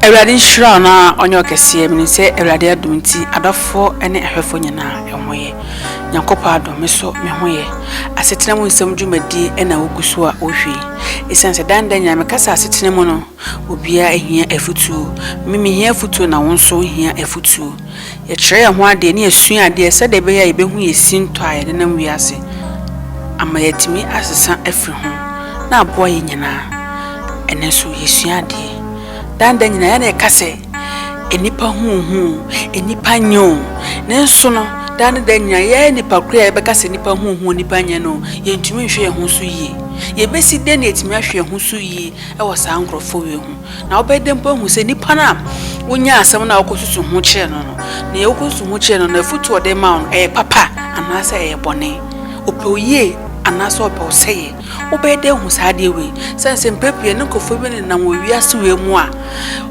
Awurade nhyira wo na ɔnyɛ ɔkɛseɛ mene sɛ Awurade adom nti adɔfoɔ ne ahwɛfoɔ nyinaa ɛho yɛ Nyankopɔn adom me so me ho yɛ asetena mu nsɛm dwumadie ɛna wogu so a wohwɛ yi ɛsiane sɛ dan da nyinaa mekasa asetena mu no obiara hia afutuo me mehia afutuo na wo nso hia afutuo Yɛkyerɛ yɛn ho adeɛ ne yɛsua adeɛ sɛdeɛ ɛbɛyɛ a yɛbɛhu yɛn sintɔ a yɛdenam wiase ama yɛatumi asesa afiri ho na aboa yɛn nyinaa. Ɛnnɛ nso yɛsua adeɛ. Daa nda nyinaa yɛn na yɛka sɛ nnipa ho ohu o, nnipa nyɛ o. Nanso no, daa ne daa nyinaa yɛn nnipa koro yi a yɛbɛka sɛ nnipa ho ohu o, nnipa nyɛ no o, yɛntumi nhwɛ yɛn ho so yie. Yɛbɛsi dɛn na yɛatumi ahwɛ yɛn ho so yie wɔ saa nkorɔfoɔ wei ho? Na wobɛyɛ dɛn mpo ahu sɛ nipa no a wonyaa asɛm no a wokɔsusu ho kyerɛɛ no no, nea wokɔsusu ho kyerɛɛ no no, afotu a ɔde maa wo no, ɛyɛ papa anaasɛ ɛyɛ bɔne? Ɔpɛ wo yie anaasɛ ɔpɛ wo sɛeɛ? Wobɛyɛ dɛn ahu saa adeɛ wei? Ɛsiane sɛ mprɛ pii yɛne nkurɔfoɔ bi nenam wɔ wiase wei mu a,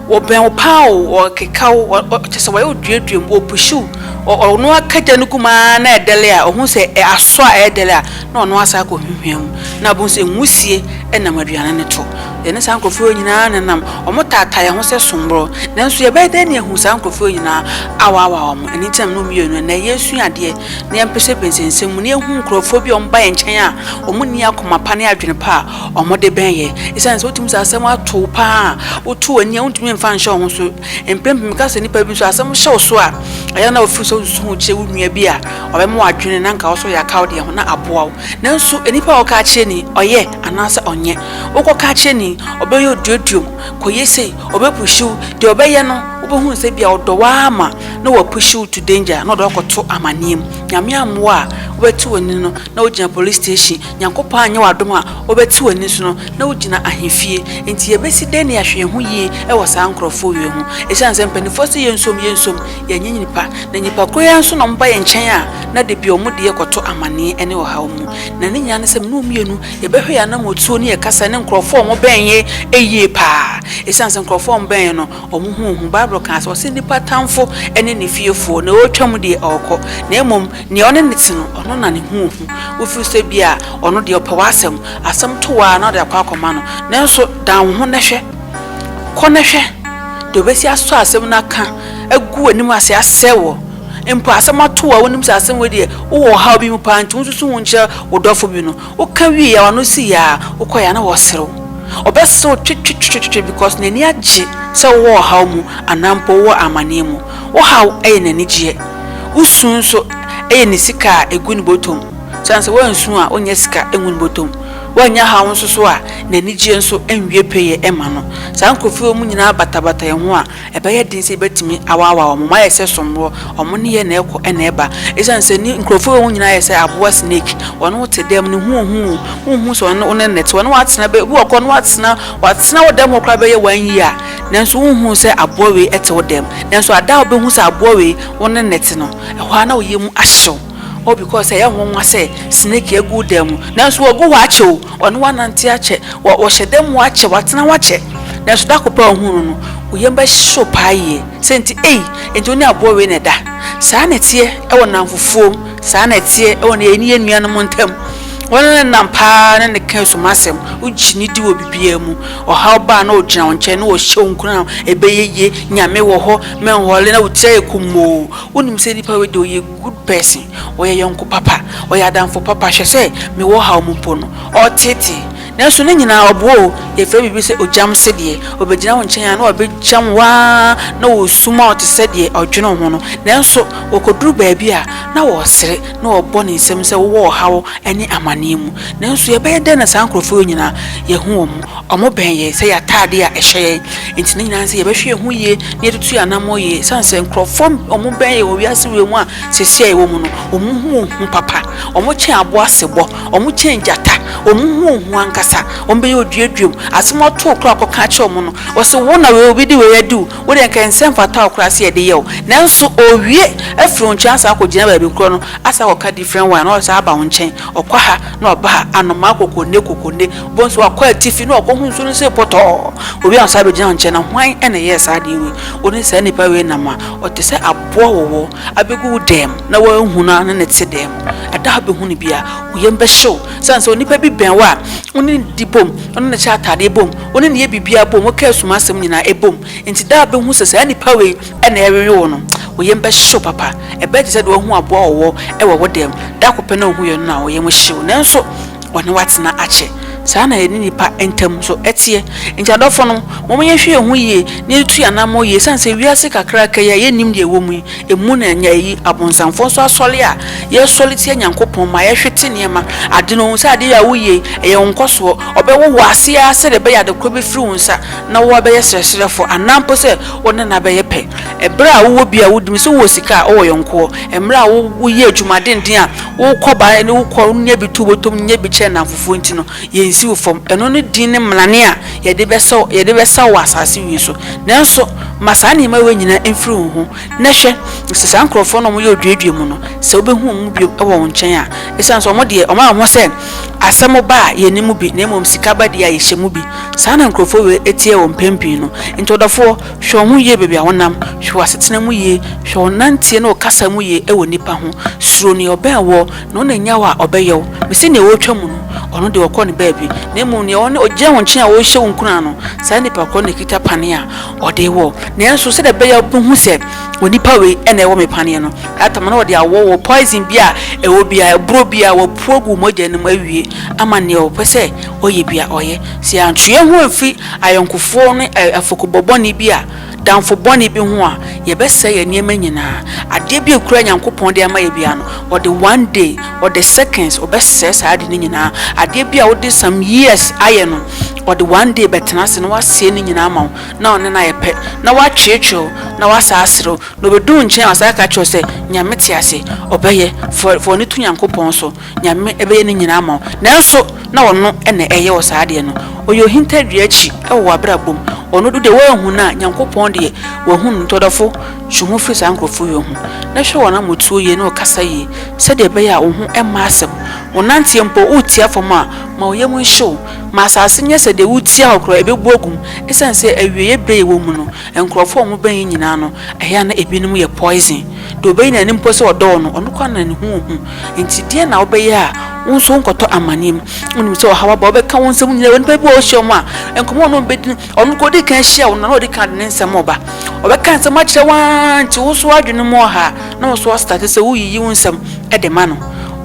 wɔbɛn wo pa ara o, wɔkeka wo, kyerɛ sɛ wɔyɛ wo duadua mu, wɔpushi wo, ɔno ara ka gya no gu mu ara na ɛdɛre a, ɔhu sɛ asɔ a ɛredɛre a, na ɔno ara san kɔhwinhwia mu, na wobɛhu sɛ nwusie nam aduane no to. Yɛne saa nkurɔfoɔ yi nyinaa na ɛnam. Wɔtaataa yɛn ho sɛ somborɔ. Nanso yɛbɛyɛ dɛn na yɛahu saa nkurɔfoɔ yi nyinaa awaawa wɔn? Ɛno nti na me ne wo mmienu nnɛ, nnɛ yɛresua adeɛ na yɛmpesapesa nsɛm mu na yɛhu nkurɔfoɔ bi a wɔba yɛn nkyɛn a wɔnni akoma pa ne adwene pa a wɔde bɛn yɛn. Esiane sɛ wotumi sɛ asɛm ato wo pa ara a, woto w'ani a wontumi mfa nhyɛ wo ho so. Mprempren meka sɛ nnipa bi nso asɛm hyɛ wo so a, ɛyɛ a na wofiri sɛ wosusu ho kyerɛ wo nua bi a ɔbɛma w'adwene na anka wo nso ɔyɛ akaw deɛ ho na aboa wo. Nanso nnipa a wɔka akyerɛ ni, ɔyɛ anaasɛ ɔnyɛ. wokɔka akyerɛ ni, ɔbɛyɛ oduoduom, kɔyɛ sei, ɔbɛpuhyi wo. Deɛ ɔbɛyɛ no, wobɛhunu sɛ ebia ɔdɔ wo ara ma na wapuhyi wo to danger na ɔde wo akɔto amaneɛ mu. Nyame ammoa a, wobɛte w'ani no na wogyina police station. Nyankopɔn anyɛ w'adom a, wobɛte w'ani so no na wogyina ahemfie. Enti yɛbɛsi dɛn na yɛahwɛ yɛn ho yie wɔ saa nkorɔfoɔ wei ho? Ɛsiane sɛ mpanimfoɔ se yɛnsom, yɛnsom, yɛnyɛ nnipa. Na nnipa korɔ yi ara nso na wɔba yɛn nkyɛn a, na dabi wɔde yɛn kɔto amaneɛ ne ɔhaw mu. Na ne nyinaa ne sɛ me ne wo mmienu Yɛbɛhwɛ yɛn anamɔtuo ne yɛn kasa ne nkorɔfoɔ a wɔbɛn yɛn yie paa. Ɛsiane sɛ nkorɔfoɔ a wɔbɛn yɛn no, wɔn ho hu. Bible kaa sɛ, ɔse, Nnipa tamfo ne ne fiefoɔ, nea ɔretwa mu deɛ, ɔrekɔ, na mmom nea ɔne no te no, ɔno na ne ho hu. Wofiri sɛ ebia ɔno deɛ ɔpɛ w'asɛm, asɛm to wo ara na wode akɔ akɔma no. Nanso dan wo ho na hwɛ. Kɔ na hwɛ deɛ ɔbɛsi asɔ asɛm no aka agu w'anim ase asɛe wo. Mpo asɛm atow a wunim sɛ asɛm wei deɛ wowɔ ɔhaw bi mu paa nti wonsusu ho nkyerɛ wo dɔfo bi no, woka wiei a w'ano si yɛ a wokɔe a na ɔreserew. Ɔbɛserew twetwetwetwe because n'ani agye sɛ wowɔ ɔhaw mu anaa mpo wowɔ amanneɛ mu. Wo haw yɛ n'anigyeɛ. Wo su nso yɛ ne sika a egu ne bɔtɔ mu. Esiane sɛ woansu a wonnya sika ngu ne bɔtɔ mu. Woannya haw nso so a, n'anigyeɛ nso nwie pɛyɛ mma no. Saa nkurɔfoɔ yi a wɔn nyinaa batabata yɛn ho a Ɛbɛyɛ den sɛ yebetumi awaawa wɔn. Wɔayɛ sɛ sommoɔ. Wɔn nneyɛe na ɛkɔ na ɛba. Esiane sɛ nni nkurɔfo wei ho nyinaa ayɛ sɛ aboa snake. Wɔne wo te dam no, hu wo ho o, wunhu sɛ wɔne wo ne nnɛte. Wɔne wo atena bɛ, ebi wɔ kɔ no wɔatena, wɔatena wo dam hɔ koraa bɛyɛ one year, nanso wunhuu sɛ aboa wei te wo dam. Nanso ada a wubehu sɛ aboa wei wo ne nnɛte no, ɛhɔ ara na wo yam ahyew. Oh because ɛyɛ nwonwa sɛ snake agu wo dan mu nanso wagu hɔ akyɛ o, ɔne wo anante akyɛ, ɔhyɛ dan mu akyɛ, watena hɔ akyɛ nanso da koro pɛ a ohuu no no wo yam bɛhyew paa yie sɛ enti ei enti wo ne aboa wei na ɛda. Saa na ɛteɛ wɔ nnamfofuom, saa na ɛteɛ wɔ ne yɛn ne yɛn nuanom ntam. Wo ne no nam paa ne no ka sum asɛm, wogye no di wɔ biribiara mu. Ɔhaw ba a na ɔgyina wo nkyɛn na ɔhyɛ wo nkuran, ɛbɛyɛ yie, Nyame wɔ hɔ, menhɔle na wo tiri ayɛ kummoo. Wonim sɛ nipa wei deɛ ɔyɛ. Good person, ɔyɛ yɔnko papa, ɔyɛ adamfo papa, hwɛ sɛ mewɔ ɔhaw mu mpo no, ɔreteetee. Nanso ne nyinaa ɔboa o, yɛfrɛ biribi sɛ ogyamse deɛ, ɔbɛgyina wo nkyɛn a na wagyam wo ara na ɔresuma wo te sɛ deɛ ɔdwene wo ho no, nanso wɔkɔduru baabi a, na ɔresere na ɔrebɔ ne nsam sɛ wowɔ ɔhaw ne amanneɛ mu. Nanso yɛbɛyɛ dɛn na saa nkorɔfoɔ yi nyinaa yɛahu wɔn? Wɔbɛn yɛn sɛ yɛn atade a ɛhyɛ yɛn nti no nyinaa nti, yɛbɛhwɛ yɛn ho yie na yɛatutu yɛn anammɔn yie. Ɛsiane sɛ nkurɔfoɔ bɛn yɛn wɔ wiase wei mu a seesei a yɛwɔ mu no, wɔhu wɔn ho papa. Wɔkyɛn aboa sebɔ. Wɔkyɛn gyata. Wɔhu wɔn ho ankasa. Wɔbɛyɛ oduaduam. Asɛm a wɔtoo koraa a wɔkɔka kyerɛɛ wɔn no, wɔse, Wo na wei, obi de wei adi wo. Wo deɛ, anka ɛnsɛ mfata wo koraa sɛ yɛde yɛ wo. Nanso ɔrewie afiri wo nkyɛn asan akɔgyina baabi korɔ no, asan akɔka different one na ɔsan aba wo nkyɛn. Ɔkɔ ha na ɔba ha. Anomaa kokonne kokonne. Wobɛhu sɛ wakɔ atifi na wakohu nsu no sɛ pɔtɔɔ. Obi ansa abɛgyina wo nkyɛn na hwan na ɛyɛɛ saa adeɛ wei? Wo ne saa nipa wei nam a, ɔte sɛ aboa wɔ hɔ abɛgu wo dam na woanhu no ara ne no te dam. Ɛda a wobɛhu no biara, wo yam bɛhye wo sane sɛ onipa bi bɛn wo a, wo ne no di bom, wo ne no hyɛ ataadeɛ bom, wo ne no yɛ biribiara bom, woka ɛsum asɛm nyinaa ɛbom. Enti da a wobɛhu sɛ saa nipa wei na ɛrewe wo no, wo yam bɛhye wo papa. Ɛbɛyɛ te sɛ deɛ woahu aboa wɔ hɔ wɔ wo dam, da koro pɛ na wohuiɛ no na wo yam hye wo. Nanso, wɔne wo atena akyɛ. Saa ara na yɛne nnipa ntam nso teɛ. Enti adɔfonom, momma yɛnhwɛ yɛn ho yie na yɛtu yɛn anammɔn yie ɛsiane sɛ wiase kakraka yi a yɛnnim deɛ ɛwɔ mu yi, emu na ɛnyɛ ayi. Abonsamfoɔ nso asɔre a yɛsɔre tia Nyankopɔn ma yɛhwete nneɛma, ade no, ɔhu sɛ adeɛ yi a woyɛ yi, ɛyɛ wo nkɔsoɔ. Ɔbɛwo wo ase ara sɛdeɛ ɛbɛyɛ a ade korɔ bɛfiri wo nsa na woabɛyɛ srɛsrɛfoɔ anaa mpo sɛ wo ne no abɛyɛ pɛ. Ɛberɛ a wowɔ bi a wodi mu, sɛ wowɔ sika a wowɔ yɔnkoɔ, mmerɛ a woyɛ adwuma denden a, Wo kɔ baeɛ ne wo kɔ wo nya bi to wobɔtɔm nya bi kyerɛ nnamfofoɔ nti no yɛnsi wo fam. Ɛno ne din ne mmarane a yɛde bɛsɔ yɛde bɛsa wo wɔ asaase wei so. Nanso ma saa nneɛma wei nyinaa mfiri wo ho, na hwɛ, sɛ saa nkurɔfoɔ no a wɔyɛ oduadua mu no, sɛ wobɛhu wɔn mu bio wɔ wo nkyɛn a, ɛsiane sɛ wɔn deɛ wɔayɛ wɔn ho sɛ asɛm ba a yɛnni mu bi, na mmom sika ba deɛ a yɛhyɛ mu bi. Saa na nkurɔfoɔ wei teɛ wɔ mpɛn pii no. Enti ɔdɔfoɔ, Hwɛ wɔn ho yie baabi a wɔnam, hwɛ wɔn asetena mu yie, hwɛ wɔn nanteɛ ne wɔn kasa mu yie wɔ nnipa ho. Suro nea ɔbɛn woɔ, na ɔnna nnya wo a, ɔbɛyɛ wo. Mese nea ɔretwa mu no, ɔno deɛ ɔkɔ ne baabi, na mmom nea ɔne ɔgyina wo nkyɛn a ɔrehyɛ wo nkuran no, saa nnipa korɔ no na ɛkita paneɛ a ɔde rewɔ wo. Nanso sɛdeɛ ɛbɛyɛ a wobɛhu sɛ onipa wei na ɛwɔ me paneɛ no, Adam na ɔde awɔ wo, poison bi a ɛwɔ biara, aburo bi a wapu agu wo mogya no mu awie ama nea ɔpɛ sɛ ɔyɛ bi a ɔyɛ. Sɛ yɛantwe yɛn ho amfiri ayɔnkofoɔ ne afɔkubɔ bɔne bi a damfo bɔne bi ho a, yɛbɛsɛe yɛn nneɛma nyinaa. Adeɛ bi a ɛkura Nyankopɔn de ama yɛ biara no, ɔde one day, ɔde seconds, ɔbɛsɛe saa ade no nyinaa. Adeɛ bi a wode some years ayɛ no, ɔde one day bɛtena ase na wasɛe ne nyinaa ama wo, na ɔne no ayɛ pɛ, na watweetwee wo, na wasan asere wo, na ɔbɛdu wo nkyɛn a wasan aka akyerɛ wo sɛ, Nyame te ase, ɔbɛyɛ, fa w'ani to Nyankopɔn so. Nyame bɛyɛ ne nyinaa ama wo, nanso na ɔno na ɛyɛ wo saa adeɛ no. Ɔyɛ ohintadua akyi wɔ w'abrabɔ mu. Ɔno do deɛ woanhu no a, Nyankopɔn deɛ wahu no, nti ɔdɔfo, twe ho firi saa nkorɔfoɔ wei ho, na hwɛ wɔn amotuo yie, ne ɔkasa yie, sɛdeɛ ɛbɛyɛ a wo ho mma asɛm. Wo nanteɛ mpo, woretia fam a, ma wo yam nhye wo. Ma asase nyɛ sɛ deɛ woretia hɔ koraa, ɛbɛbu agu mu, ɛsiane sɛ awieɛ berɛ a yɛwɔ mu no, nkorɔfoɔ a wɔbɛn yɛn nyinaa no, ɛyɛ a na ɛbinom yɛ poison. Deɛ ɔbɛyi n'ani mpo sɛ ɔdɔ wo no, ɔno koraa na ne ho ɔhu. Enti deɛn na wobɛyɛ a wo nso wonkɔtɔ amaneɛ mu? Wonim sɛ ɔhaw aba, ɔbɛka wo nsɛm nyinaa. Nnipa bi wɔ hɔ wohyia wɔn a, nkɔmmɔ a ɔne wɔn bɛdi no, ɔno nka ɔdi kan hyia wo no, na ɔdi kan de ne nsɛm reba. Ɔbɛka nsɛm akyerɛ wo ara nti wo nso w'adwene mu ɔha a, na wo nso woastate sɛ woreyiyi wo nsɛm de ma no.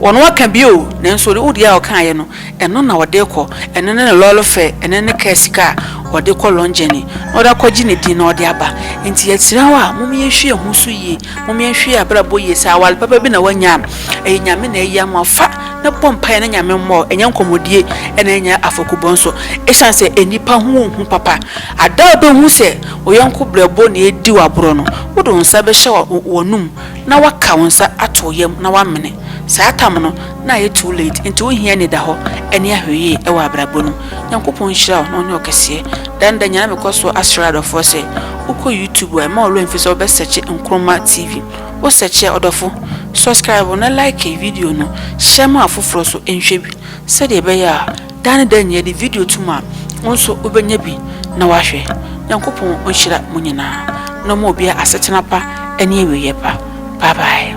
Ɔno aka bi o, nanso wo deɛ a ɔkaeɛ no, ɛno na ɔde rekɔ, ɛno ne ne lɔre fɛ, ɛno ne kaa sika a ɔde rekɔ long journey, na ɔde akɔgye ne din na ɔde aba. Nti yɛsrɛ wo a, mom yɛnhwɛ yɛn ho so yie, mom yɛnhwɛ yɛn abrabɔ yie. Sɛ aware papa bi na woanya a, ɛyɛ Nyame na ayi ama wo. Fa na bɔ mpaeɛ na Nyame mmoa wo, ɛnyɛ nkɔmmɔdie na ɛnyɛ afɔkubɔ nso. Ɛsiane sɛ nnipa hu wo hu papa, ada a wɔbɛhu sɛ wo yɔnko brɛboɔ na ɛredi wo aborɔ no, wode wo nsa bɛhyɛ w'anom na woaka wo nsa ato wo yam na woamene. Saa tam no, na ayɛ too late nti wo hia anidahɔ ɛne ahwɛyie ɛwɔ abrabɔ no Nyankopɔn nhyira wo na ɔnyɛ wo kɛseɛ Da ne da nyinaa na me kɔ soɔ asrɛ adɔfoɔ sɛ wo kɔ YouTube a ɛmma wo werɛ mfiri sɛ wo bɛ sɛkye Nkrumah TV wo sɛkye a ɔdɔfo subscribe na like video no share ma afoforɔ so nhwɛ bi sɛdeɛ ɛbɛyɛ a da ne da nyinaa yɛde video to mu a wo nso wo bɛnya bi na wahwɛ Nyankopɔn ɔnhyira mo nyinaa na ɔma obiara asetena pa ɛne awieɛ pa Bye bye.